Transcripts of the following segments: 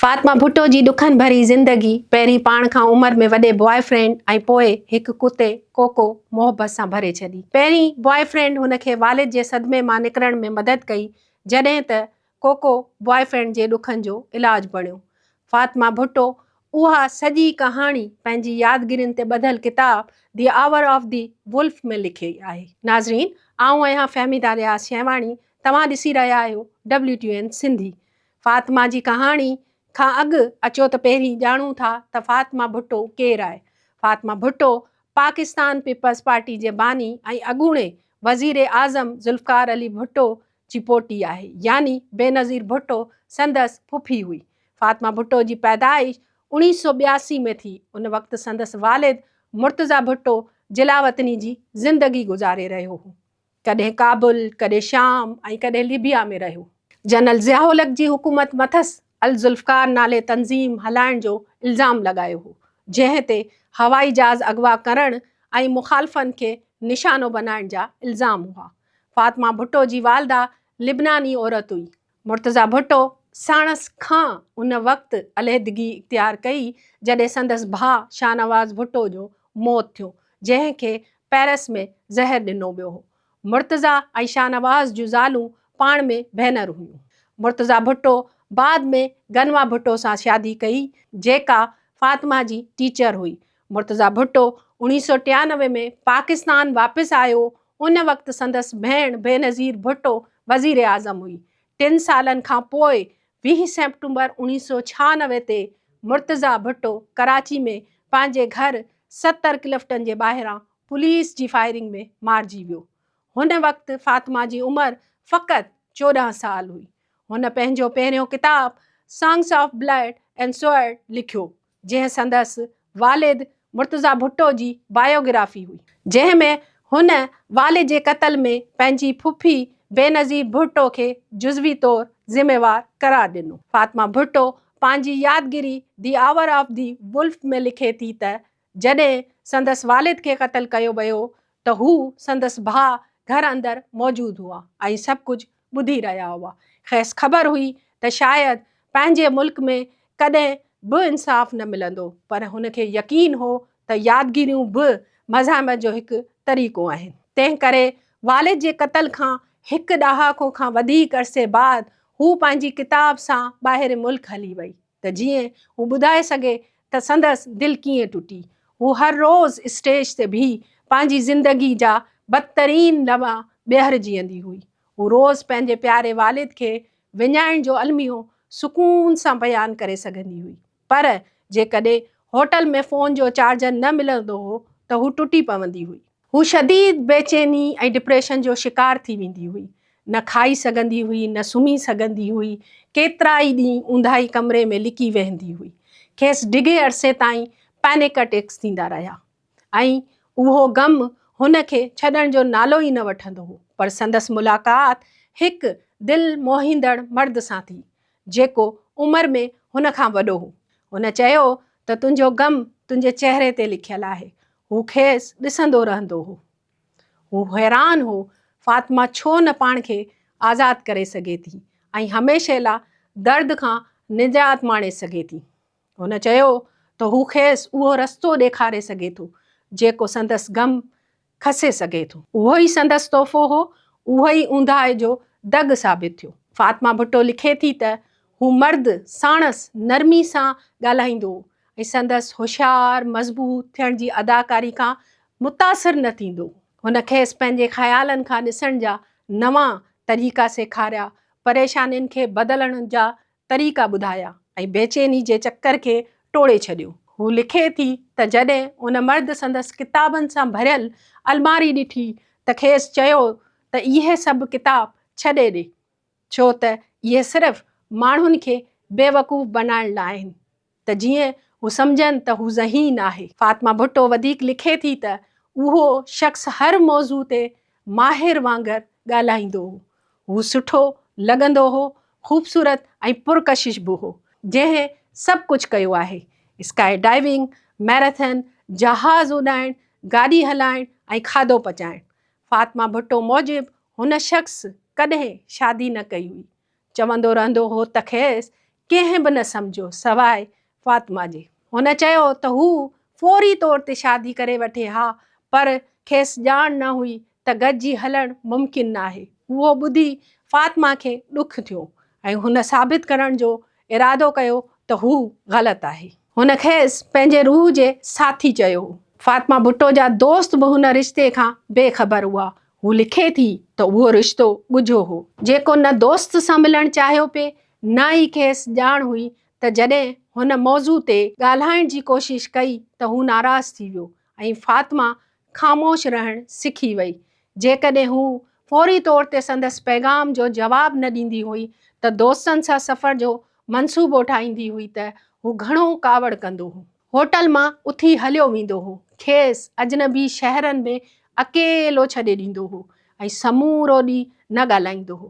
فاطمه ڀٽو جي ڏکن ڀري زندگي پهرين پاڻ کان عمر ۾ وڏي بواء فرينڊ ۽ پوء هڪ ڪتي ڪوڪو محبت سان ڀري ڇڏي. پهرين بواء فرينڊ هن کي والد جي صدمي مان نڪرڻ ۾ مدد ڪئي جڏهن ته ڪوڪو بواء فرينڊ جي ڏکن جو علاج بڻيو. فاطمه ڀٽو اها سڄي ڪهاڻي پنهنجي يادگيرين تي ٻڌل ڪتاب the hour of the wolf ۾ لکي آهي. ناظرين آئون آهيان فهميده رياض شينواڻي توهان ڏسي رهيا آهيو WTN سنڌي. فاطمه جي ڪهاڻي کان اڳ اچو ته پهرين ڄاڻون ٿا ته فاطمه ڀٽو ڪير آهي. فاطمه ڀٽو پاڪستان پيپلز پارٽي جي باني ۽ اڳوڻي وزير اعظم ذوالفقار علي ڀٽو جي پوٽي آهي يعني بينظير ڀٽو سندس ڦڦي هئي. فاطمه ڀٽو جي پيدائش اوڻيهه سؤ ٻياسي ۾ ٿي ان وقت سندس والد مرتضيٰ ڀٽو جلاوطني جي زندگي گذاري رهيو هو. ڪڏهن ڪابل، ڪڏهن شام ۽ ڪڏهن ليبيا ۾ رهيو. جنرل ضياء الحق جي حڪومت مٿس الذوالفقار نالي تنظيم هلائڻ جو الزام لڳايو هو، جنهن تي هوائي جهاز اغوا ڪرڻ ۽ مخالفن کي نشانو بنائڻ جا الزام هئا. فاطمه ڀٽو جي والده لبناني عورت هئي، مرتضيٰ ڀٽو ساڻس کان ان وقت عليحدگي اختيار ڪئي جڏهن سندس ڀاء شاهنواز ڀٽو جو موت ٿيو جنهن کي پئرس ۾ زهر ڏنو ويو هو. مرتضيٰ ۽ شاهنواز جون زالون پاڻ ۾ ڀينر هيون. مرتضيٰ ڀٽو بعد ۾ گنوا ڀٽو سان شادي ڪئي جيڪا فاطمه جي ٽيچر هئي. مرتضيٰ ڀٽو اوڻيهه سؤ ٽيانوي ۾ پاڪستان واپس آيو، ان وقت سندس ڀيڻ بينظير ڀٽو وزيراعظم هئي. ٽن سالن کان پوء ويهه سيپٽمبر اوڻيهه سؤ ڇهانوي تي مرتضيٰ ڀٽو ڪراچي ۾ پنهنجي گهر ستر ڪلفٽن جي ٻاهران پوليس جي فائرنگ ۾ مارجي ويو. هن وقت فاطمه جي عمر فقط چوڏهن سال هئي. هن پنهنجو پهريون ڪتاب songs of blood and sword لکيو. جنهن سندس والد مرتضيٰ ڀٽو جي بايوگرافي هئي، جنهن ۾ هن والد جي قتل ۾ پنهنجي ڦڦي بينظير ڀٽو کي جزوي طور ذميوار قرار ڏنو. فاطمه ڀٽو پنهنجي يادگيري the hour of the wolf ۾ لکي ٿي ته جڏهن سندس والد کي قتل ڪيو ويو ته هو سندس ڀاء گهر اندر موجود هئا ۽ سڀ ڪجهه ٻڌي رهيا هئا. کيس خبر هئي ته شايد پنهنجي ملڪ ۾ ڪڏهن به انصاف نه ملندو، پر هن کي يقين هو ته يادگيريون به مزاحمت جو هڪ طريقو آهن. تنهن ڪري والد جي قتل کان هڪ ڏهاڪو کان وڌيڪ عرصي بعد هوء پنهنجي ڪتاب سان ٻاهرين ملڪ هلي وئي. ته جيئن هو ٻڌائي سگهي ته سندس دل ڪيئن ٽٽي. هو هر روز اسٽيج تي بيهي پنهنجي زندگي جا بدترين لمحا ٻيهر جيئندي هئي. هو روز پنهنجي پياري والد کي وڃائڻ جو الميو سڪون سان بيان ڪري سگهندي هئي پر جيڪڏهن هوٽل ۾ فون جو چارجر نه ملندو هو ته هو ٽٽي پوندي هئي. هو شديد بيچيني ۽ ڊپريشن جو شڪار ٿي ويندي هئي. نه کائي سگهندي هئي، نه سمهي سگهندي هئي. ڪيترا ئي ڏينهن اونداهي ڪمري ۾ لڪي ويهندي هئي. کيس ڊگهي عرصي تائين پينڪ اٽيڪس ٿيندا رهيا ۽ اهو غم هن کي ڇڏڻ جو نالو ئي نه وٺندو هو. پر سندس ملاقات هڪ دل موهيندڙ مرد سان ٿي، جيڪو عمر ۾ هن کان وڏو هو. هن چيو ته تنهنجو غم تنهنجي چهري تي لکيل آهي. هو کيس ڏسندو رهندو هو. هو حيران هو فاطمه ڇو نه پاڻ کي آزاد ڪري سگهي ٿي ۽ هميشه لا درد کان نجات ماڻي سگهي ٿي. هن چيو ته هو کيس اهو رستو ڏيکاري سگهي ٿو جيڪو سندس غم کسي سگهي ٿو. اهو ئي سندس تحفو هو، اهو ئي اونداهي جو دڳ ثابت ٿيو. فاطمه ڀٽو لکي ٿي ته هو مرد ساڻس نرمي سان ڳالهائيندو هو ۽ سندس هوشيار، مضبوط ٿيڻ جي اداڪاري کان متاثر نه ٿيندو هو. هن کيس پنهنجي خيالن کان ڏسڻ جا نوان طريقا سيکاريا، پريشانين کي بدلڻ جا طريقا ٻڌايا ۽ بيچيني جي چڪر کي ٽوڙي ڇڏيو. هو لکي ٿي ته جڏهن ان مرد سندس ڪتابن سان ڀريل الماري ڏٺي ته کيس چيو ته اهي سڀ ڪتاب ڇڏي ڏي. ڇو ته اهي صرف ماڻهن کي بيوقوف بنائڻ لاء آهن ته جيئن هو سمجهن ته هو ذهين آهي. فاطمه ڀٽو وڌيڪ لکي ٿي ته اهو شخص هر موضوع تي ماهر وانگر ڳالهائيندو هو. هو سٺو لڳندو هو، خوبصورت ۽ پرڪشش به هو، جنهن سڀ ڪجهه ڪيو آهي، اسڪائي ڊائيونگ، ميراٿن، جهاز اڏائڻ، گاڏي هلائڻ ۽ کاڌو پچائڻ. فاطمه ڀٽو موجب هن شخص ڪڏهن شادي نه ڪئي هئي، چوندو رهندو هو ته کيس ڪنهن به نه سمجهيو سواء فاطمه جي. هن چيو ته هو فوري طور تي شادي ڪري وٺي ها پر کيس ڄاڻ نه هئي ته گڏجي هلڻ ممڪن ناهي. اهو ٻڌي فاطمه کي ڏک ٿيو ۽ هن ثابت ڪرڻ جو ارادو ڪيو ته هو غلط آهي. هن کيس پنهنجي روح جي ساٿي چيو هو. فاطمه ڀٽو جا دوست به هن رشتي کان بي خبر هئا. هو لکي ٿي ته اهو رشتو ڳجهو هو. جيڪو نه دوست سان ملڻ چاهيو پئي نه ئي کيس ڄاڻ هئي ته جڏهن هن موضوع تي ڳالهائڻ جي ڪوشش ڪئي ته هو ناراض ٿي ويو. ۽ فاطمه خاموش رهڻ سکي وئي. جيڪڏهن هو فوري طور تي سندس پيغام جو جواب نه ڏيندي هئي ته دوستن سان سفر جو منصوبو ٺاهيندي هئي ته هو گهڻو ڪاوڙ ڪندو هو. هوٽل مان اٿي هليو ويندو هو. کيس اجنبي شهرن ۾ اڪيلو ڇڏي ڏيندو هو ۽ سمورو ڏينهن نه ڳالهائيندو هو.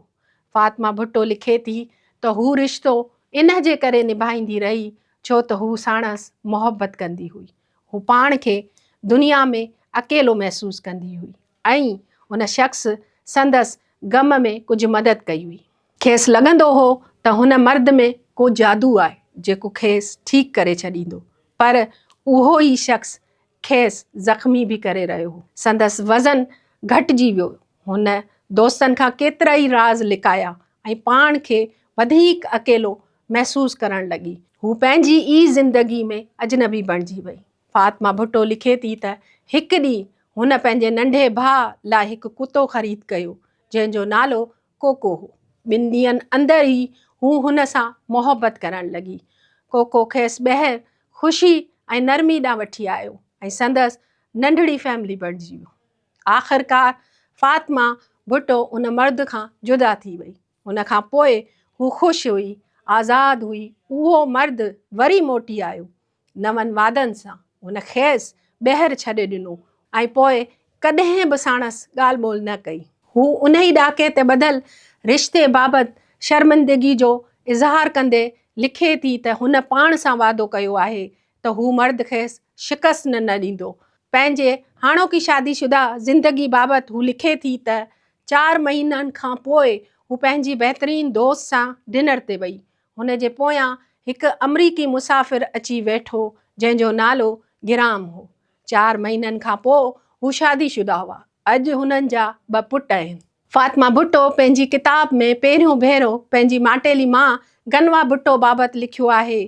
فاطمه ڀٽو لکي ٿي ته هو رشتو ان جي ڪري نڀائيندي رهي ڇو ته هو ساڻس محبت ڪندي هئي. هو پاڻ کي دنيا ۾ اڪيلو محسوس ڪندي هئي ۽ ان شخص سندس غم ۾ ڪجهه مدد ڪئي هئي. کيس لڳندو هو ته هن مرد ۾ ڪو جادو آهي جيڪو کيس ٺيڪ ڪري ڇڏيندو پر اهو ئي شخص کيس زخمي به ڪري رهيو هو. سندس وزن گهٽجي ويو. هن دوستن کان ڪيترائي راز لڪايا ۽ پاڻ کي وڌيڪ اڪيلو محسوس ڪرڻ لڳي. هو پنهنجي ئي زندگي ۾ اجنبي بڻجي وئي. فاطمه ڀٽو لکي ٿي ته هڪ ڏينهن هن پنهنجي ننڍي ڀاء لاء هڪ ڪتو خريد ڪيو، جنهن جو نالو ڪوڪو هو. ٻن ڏينهن اندر ئي هو هن سان محبت ڪرڻ لڳي. ڪوڪو کيس ٻيهر خوشي ۽ نرمي ڏانهن وٺي آيو ۽ سندس ننڍڙي فيملي بڻجي ويو. آخرڪار فاطمه ڀٽو ان مرد کان جدا ٿي وئي. ان کان پوء هو خوش هئي، آزاد هئي، اهو مرد وري موٽي آيو، نون وعدن سان، هن کيس ٻيهر ڇڏي ڏنو ۽ پوء ڪڏهن به ساڻس ڳالهه ٻولهه نه ڪئي. هو انهي ڏاڪي تي ٻڌل رشتي بابت شرمندگي جو اظهار ڪندي لکي ٿي ته هن پاڻ سان وعدو ڪيو آهي ته هو مرد کيس شڪست نه نه ڏيندو. پنهنجي هاڻوڪي شادي شده زندگي بابت هو لکي ٿي ته چار مهينن کان پوء هو پنهنجي بهترين دوست سان ڊنر تي وئي. هن جي پويان هڪ آمريڪي مسافر اچي ويٺو جنهن جو نالو گرام هو. چار مهينن کان پوء هو شادي شده هئا. اڄ هنن جا ٻه پٽ آهن. فاطمه ڀٽو پنهنجي ڪتاب ۾ پهريون ڀيرو پنهنجي ماٽيلي ماء گنوا ڀٽو بابت لکيو آهي.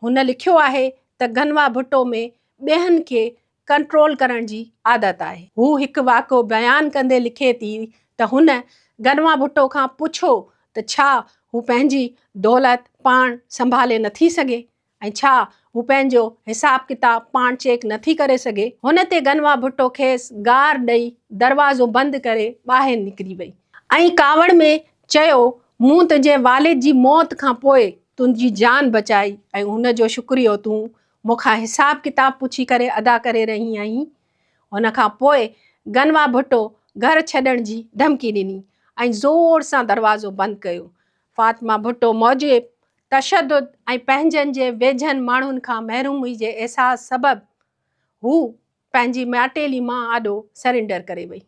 هن لکيو آهي ته گنوا ڀٽو ۾ ٻين کي ڪنٽرول ڪرڻ جي عادت آهي. هو هڪ واقعو بيان ڪندي لکي ٿي ته هن گنوا ڀٽو کان پڇو ته ڇا هو پنهنجي دولت پاڻ سنڀالي نٿي سگهي؟ ۽ ڇا هو پنهنجو حساب ڪتاب پاڻ چيڪ نه ٿي ڪري سگهي؟ هن تي گنوا ڀٽو کيس گار ڏئي دروازو بند ڪري ٻاهر نڪري وئي ۽ ڪاوڙ ۾ چيو مون تنهنجي والد جي موت کان پوء تنهنجي جان بچائي ۽ ان جو شڪريو تون مون کان حساب ڪتاب پڇي ڪري ادا ڪري رهي آهين. ان کان پوء گنوا ڀٽو گهر ڇڏڻ جي ڌمڪي ڏني ۽ زور سان دروازو بند ڪيو. فاطمه ڀٽو موجب تشدد ۽ پنهنجن جي ويجهن ماڻهن کان محرومي جي احساس سبب هو پنهنجي ماٽيلي مان آڏو سرينڊر ڪري وئي.